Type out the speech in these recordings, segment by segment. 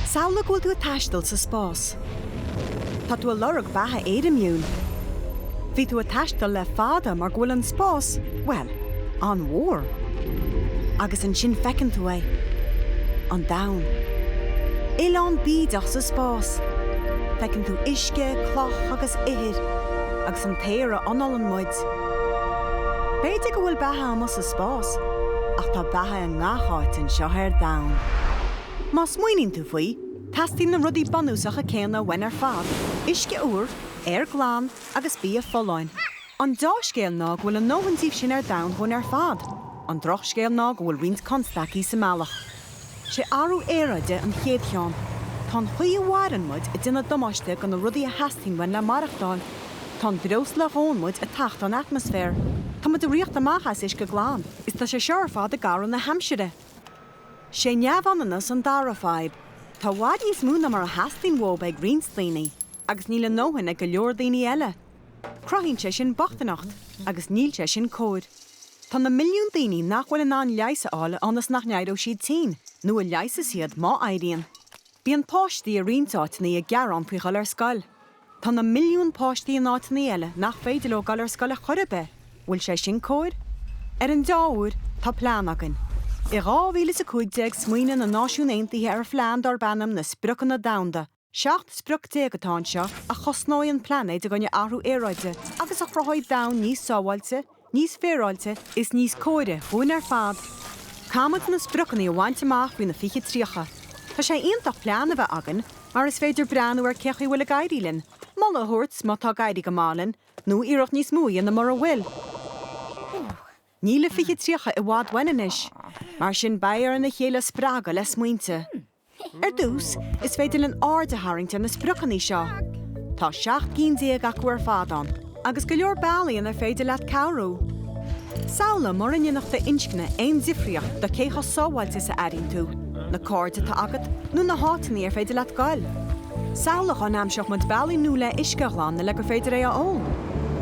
Samhlaigh go bhfuil tú ag taisteal sa spás. Tá tú ag lorg beatha éirimiúil. Bhí tú ag taisteal le fada mar go bhfuil an spás, bhuel, an-mhór. Agus ansin feiceann tú é. An Domhan. Oileán bídeach sa spás. Feiceann tú uisce, cloch agus ithir, agus an t-aer a ionnálann muid. B'fhéidir go bhfuil beatha amuigh sa spás, ach tá beatha i ngach áit anseo ar domhan. Má smaoiníonn tú faoi, teastaíonn na rudaí bunúsacha céanna uainn ar fad, uisce úr, aer glan agus bia folláin. An deá-scéal ná go bhfuil ár ndóthain díobh sin ar domhan dhúinn ar fad. An drochscéal ná go bhfuil roinnt constaicí sa mbealach. Sé athrú aeráide an chéad cheann. Tá an chaoi a mhaireann muid ag déanamh damáiste do na rudaí a theastaíonn uainn le maireachtáil. Tá an breosla a dhónn muid ag tachtadh an atmaisféir. Tá muid ag rith amach as uisce glan. is tá sé seo ar fad ag athrú na haimsire. 'Sé neamhionannas an dara fadhb. Tá i bhfad níos mó ná mar a theastaíonn uathub ag roinnt daoine, agus níl a ndóthain ag go leor daoine eile. Cruthaíonn sé sin bochtaineacht, agus níl sé sin cóir. Tá na milliúin daoine nach bhfuil in ann leigheas a fháil ionas nach n-éireodh siad tinn, nó a leigheasas iad, má éiríonn. Bíonn páistí i roinnt áiteanna ag gearán faoi ghoil ar scoil. Tá na milliúin páistí in áiteanna eile nach féidir leo goil ar scoil ar chor ar bith, bhfuil sé sin cóir? Ar an deá-uair, tá plean againn. I 2015 smaoinigh na Náisiúin Aontaithe ar phlean darb ainm na Spriocanna Domhanda. 17 sprioc atá anseo a chosnóidh an plainéad i gcoinne athrú aeráide agus a chruthóidh domhan níos sábháilte, níos féaráilte is níos cóire dhúinn ar fad Caithfidh muid na spriocanna a bhaint amach faoi na fiche tríocha. Tá sé iontach plean a bheith againn mar is féidir breathnú ar cé chaoi bhfuil ag éirí linn, moladh a thabhairt má tá ag éirí go maith linn nó iarracht níos mó a dhéanamh mura bhfuil. Níl na fiche tríocha i bhfad uainn anois, mar sin beidh orainn a chéile a spreagadh le smaointe. Ar dtús, is féidir linn aird a tharraingt ar na spriocanna seo. Tá seacht gcinn déag acu ar fad ann, agus go leor bealaí inar féidir leat cabhrú. Samhlaigh mura ndéanfadh d'inscne aon difríocht do cé chomh sábháilte is a airíonn tú, na cairde atá agat, nó na háiteanna ar féidir leat goil. Samhlaigh dá n-aimseodh muid bealaí nua le huisce a ghlanadh le gur féidir é a ól.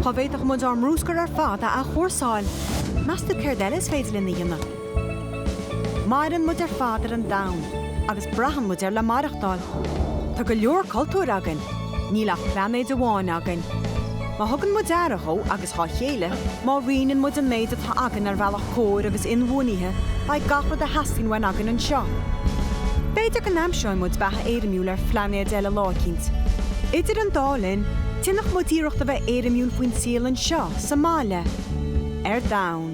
Dá bhféadfadh muid ár mbrúscar ar fad a athchúrsáil? Meas tú céard eile is féidir linn a dhéanamh? Maireann muid ar fad ar an domhan agus braitheann muid air le maireachtáil. Tá go leor cultúr againn, níl ach plainéad amháin againn. Má thugann muid aire dhó agus dhá chéile, má roinneann muid an méid atá againn ar bhealach cóir agus inbhuanaithe, beidh gach rud a theastaíonn uainn againn anseo. B'fhéidir go n-aimseoidh muid beatha éirimiúil ar phlainéad eile lá eicínt. Idir an dá linn, déanadh muid iarracht a bheith éirimiúil faoin saol anseo, sa mbaile, ar domhan.